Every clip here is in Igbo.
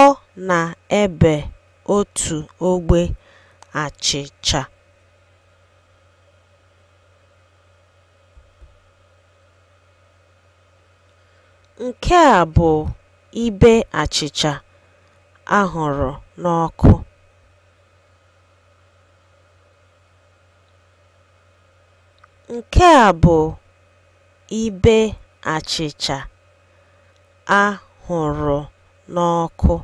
Ọ na-ebe otu ogbe achịcha. Nke a bụ ibe achịcha a hụrụ n'ọkụ. Nke a bụ ibe achịcha. a hụrụ n'ọkụ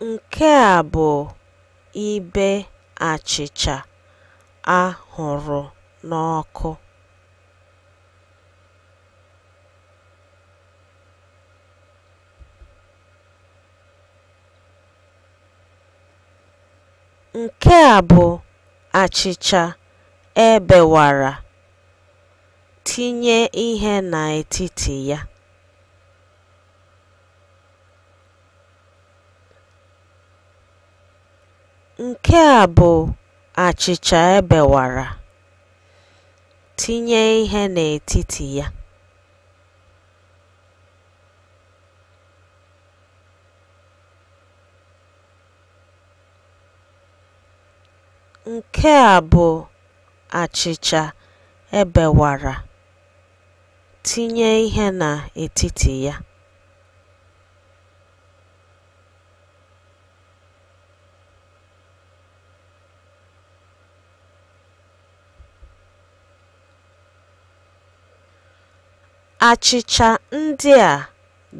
Nke a bụ ibe achịcha a hụrụ n'ọkụ. Nke a bụ achịcha e bewara, tinye ihe n'etiti ya. Nke a bụ achịcha e bewara, tinye ihe n'etiti ya. Nke a bụ achịcha e bewara, tinye ihe n'etiti ya. Achịcha ndị a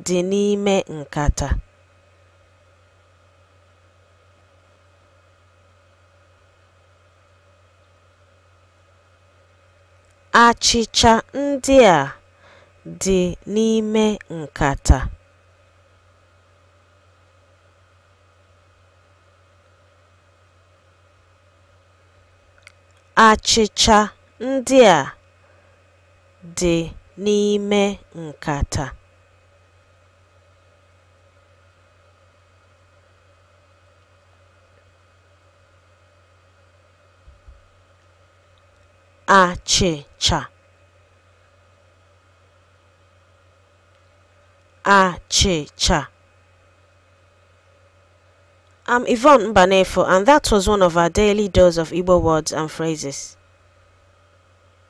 dị n'ime nkata. Achịcha ndị a dị n'ime nkata. Achịcha ndị a dị n'ime nkata. achịcha achịcha I'm Yvonne Mbanefo, and that was one of our daily dose of Igbo words and phrases.